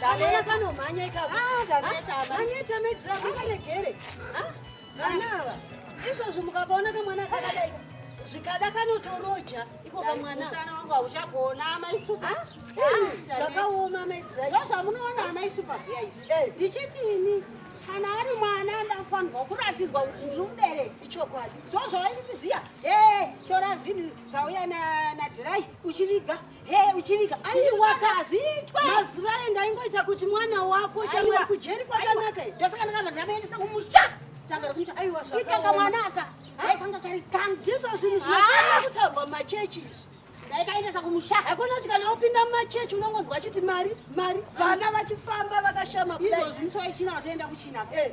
Kamwana kanomhanya ikako. Ah, taneta ah, maneta medra kane gere. Ah, vana ava. Izvozvo mukakaona kamwana kakadai zvikada kanotoroja iko kamwana. Musana wangu hauchagona amai supa. Ah, ah, zvakaoma medra. Ndozvamunoona amai supa zviya izvi. Eh. Ndichiti ini kana ari mwana ndafanirwa kuratidzwa kuti ndiri mubereki ichokwadi zvozvavaititi zviya ee tora zvinhu zvauya nadhirai uchiviga Hey, uchivika aiwaka hazviitwa mazuva aye ndaingoita kuti mwana wako chamwari kujeri kwakanaka ndosaka ndakabva ndamaendesa kumusha itanga mwanaka aikanga kari kangu ndizvo zvinhu zvinofanira kutaurwa machechi izvi ndaikaendesa kumusha hakuna kuti kana upinda mumachechi unongonzwa achiti mari mari vana vachifamba vakashama kudai izvozvi musoichina watoenda kuchina eh.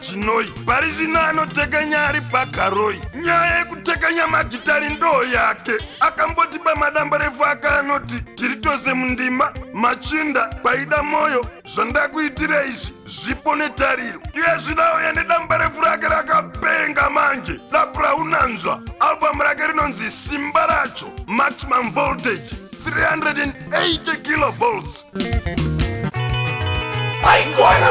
chinoi pari zvino anotekanya ari pakaroi nyaya yekutekanya magitari ndoo yake akambotipa madambarefu ake anoti tiri tose mundima machinda paida mwoyo zvandakuitira izvi zvipo netariro iye zvino auya nedamba refu rake rakapenga manje dapu raunanzva albhamu rake rinonzi simba racho maximum voltage 380 kilovolts aikwana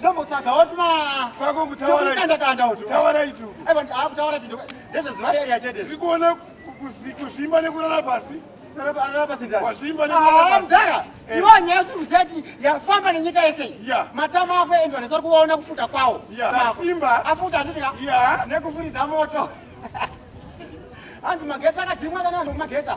ndombotsvaga woti kwako kutauraianda kanda uti taura itu akutaura chinhu ndezvezuva reri yachete tiri kuona kuzvimba nekurara pasi mzara iwo nyaya siri kuziva ti yafamba nenyika yese matama ako endwa nesori kuvaona kufuta kwawo simba afuta handidika nekufuridza moto hanzi magetsi akadzimwa kana vanhu magetsa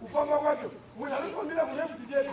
Kufamba kwacho munhu anofambira kune kuti chete.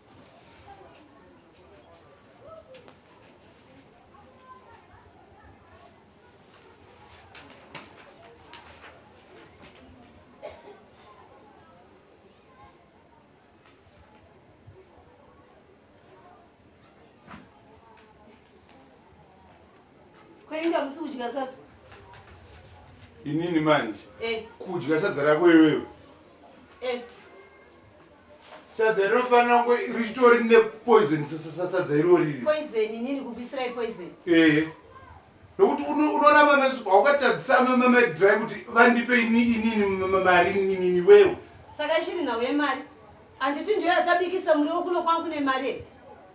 Kuinga musi kudya sadza. Inini manje. Eh. Kudya sadza rako iwewe. Eh. sadza rinofanira kunge richitori nepoison sadza iriwo riri ee nokuti unoramba mesu haukatadzisa mamedry kuti vandipe inini mari inini wewo saka chiri nhau yemari handiti ndiyo yatabikisa muriwo kuno kwangu nemari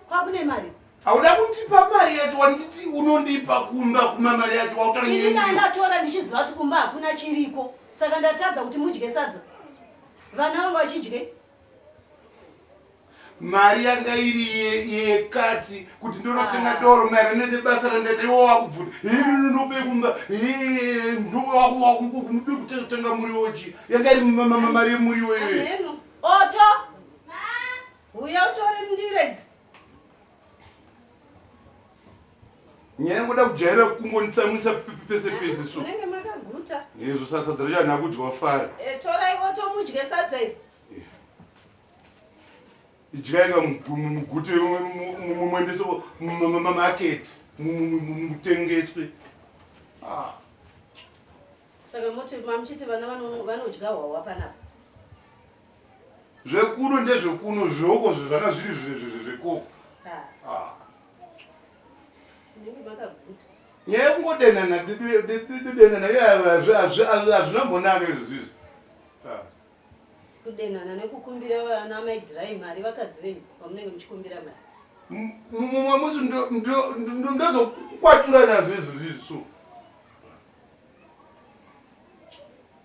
kwakune mari hauda kundipa mari yacho wanditi unondipa kumba kuma mari yacho wautainini ndatora ndichiziva kuti kumba hakuna chiriko saka ndatadza kuti mudye sadza Vana vanga vachidye. Mari yanga iri yekati kuti ndonotenga ah. doro maererano nebasa randaita iwo wakubvuna hii nobe kumba hii ndowakunobe kutenga muriwo chi yanga iri mari yemuriwo iyoyo. Oto. Huya utore mndiredzi. nyaya yangoda kujaira kungonditsamwisa pese pese so munenge makaguta izvo sasa sadza racho anha kudya wafara eh, torai otomudye sadza iri eh. idyai ka mugute mumwendese mamaketi mutengeswe ah. saka moti mamuchiti vana vanodya hwawa panapa Zvekuno ndezvekuno zveoko zvezvana zviri zvekoko. Ah. Nyaya yekungodenana denana hazvina mbonaka izvi zvizi. Ah. Kudenana nekukumbira vana amai dhirai mari vakadzi venyu pamunenge muchikumbira mari. Mumwe musi ndozokwatura nazvo izvi zvizi so.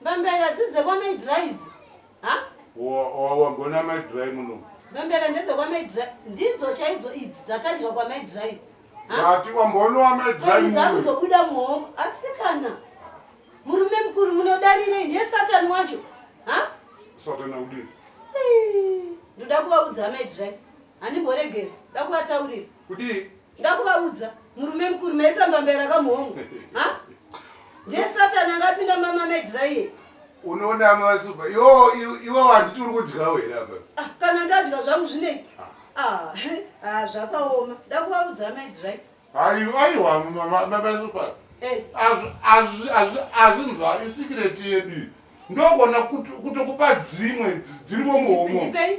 Mbambera dzidze kwa mai dry idzi. Ha? Wagona mai dry muno. Mbambera ndedze kwa mai dry. Ndidzo chaidzo idzi dzatadya kwa mai dry. Vati wambonwa mai dry muno. Ndidza kuzobuda muhombo. Asi kana murume mukuru munodarire ndiye satani wacho. Ha? Satani udini? Ndoda kuvaudza mai dry. Handimboregera. Ndoda kuvataurira. Kudii? Ndakuvaudza murume mukuru maisa mbambaira kamuhomo. Ha? Ndiye satani angapinda mama medra iye. Unoona mama suba. Yo iwe wanditi uri kudya wera apa. Ah, kana ndadya zvangu zvinei? Ah. ah, ah zvakaoma. Ndakuvaudza medra. Ayo ayo mama mama suba. Eh. Azvi azvi azvi azvi nzwa isikireti yedu. Ndokuona kutokupa dzimwe dziri muhomo. Ndipei.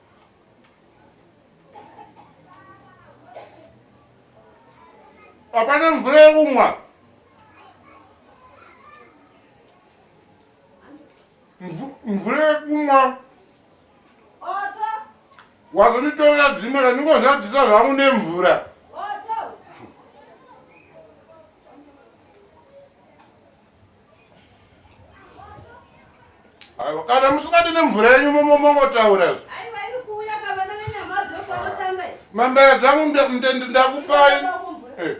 hapana mvura yekumwa mvura yekumwa wazonditorera dzimwe randingozadzisa zvangu nemvura aiwa kana musingadi nemvura yenyu momomongotaura izvo mambaya dzangu ndakupai eh.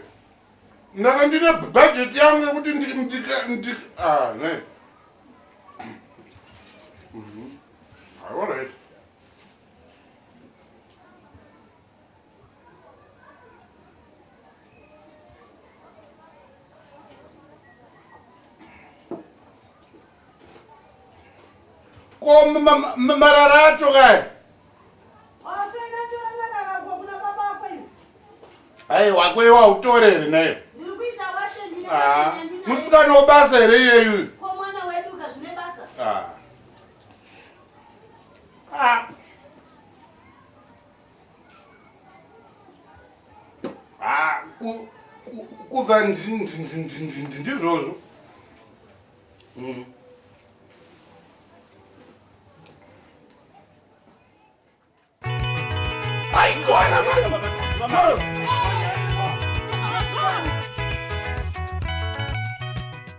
ndaka ndine bhajeti yangu yekuti ndikane ah, mhm. ah, alright ko marara acho kaya hai wako iwe wautore here nayo ah, musikana wobasa here iyeyu ah. ah. ah, kuva ndizvozvo mm. aigona mano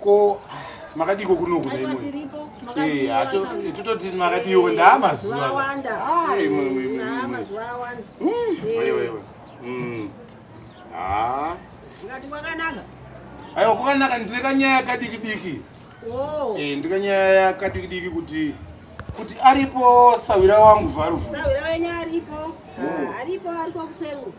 ko makadiko kunoku naimotototi eh, makadiwo ndaamazuvaaiwewewe hmm. ah. aiwa kwakanaka ndine kanyaya yakadiki diki oh. eh, ndine kanyaya yakadiki diki kuti kuti aripo sawira wangu varufu sawira wenyu aripo hmm. ah, aripo ariko kuseru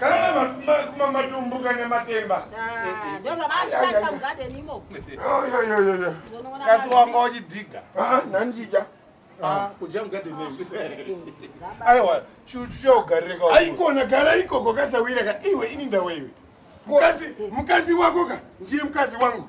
Kana kuma matumbu kana matemba. Ah, ndio zamani sasa mgade nimo. Yo yo yo yo yo. Kasi wanga wachidiga. Ah, nandija. Ah, kuja mgade nimo. Aiwa, chuchuya ugareka. Aikona gara ikoko kasawira ka iwe ini ndawe iwe. Mkazi, mkazi wako ka ndiye mkazi wangu.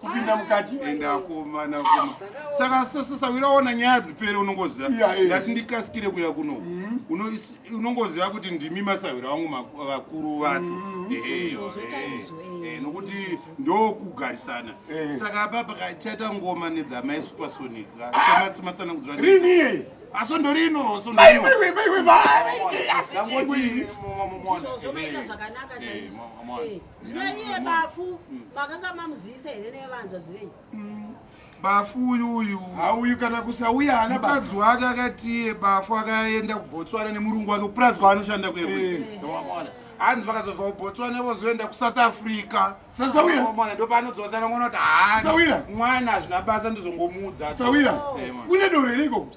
kupinda mukati ende akomana kuma saka sasawira waona nyaya dzipere unongoziva ndati ndikasikire kuya kuno mm. unongoziva kuti ndimi masawira wangu vakuru vacho mm. eh, nokuti ndokugarisana eh. saka apa pakachaita ngoma nedzamai supersonic sematsanakuziva rini aso ndorino sondorino Zvino iye bafu makanga mamuzivisa here nevanzvadzi venyu? Mm. Bafu uyu uyu hauyu kana kusauya hana mukadzi wake akati iye bafu akaenda kuBotswana nemurungu wake kupurazi kwaanoshanda kwewe. Wamwana. Eh. Hanzi vakazobva kuBotswana vozoenda kuSouth Africa. Sasawira. Wamwana ndipo anodzosana mwana kuti haana. Sawira. Mwana hazvina basa ndizongomuudza. Sawira. Eh, Kune doro here ikoko?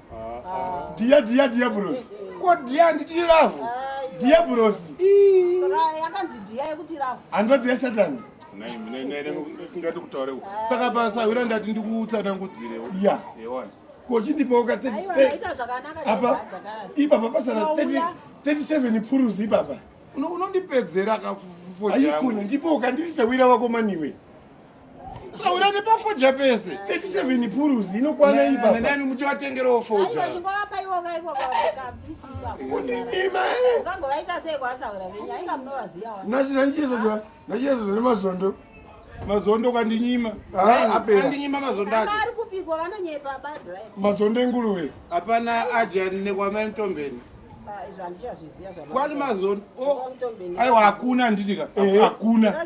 Dia dia dia bros. Ko dia nditi love. Dia bros. Saka yakanzi dia yekuti love. Andodzi ya Satan. Nai mina nai ndingati kutaure. Saka basa wira ndati ndikutsana ngudzirewo. Yeah. Yewona. Ko chindipo ka 30. Aiwa ita zvakanaka. Apa ipa papa sana 30 37 puruzi baba. Unondipedzera ka 40. Ayikuna ndipo ukandirisa wira wako maniwe. Saura nepafoja pese 37 purus inokwana ipapa nani muchivatengerawo foja nachiyesoja nemazondo mazondo kandinyima ah, andinyima mazondo ake mazondo enguruve hapana ajani nekwamai mutombeni ah, kwani mazondo oh, aiwa hakuna anditika hakuna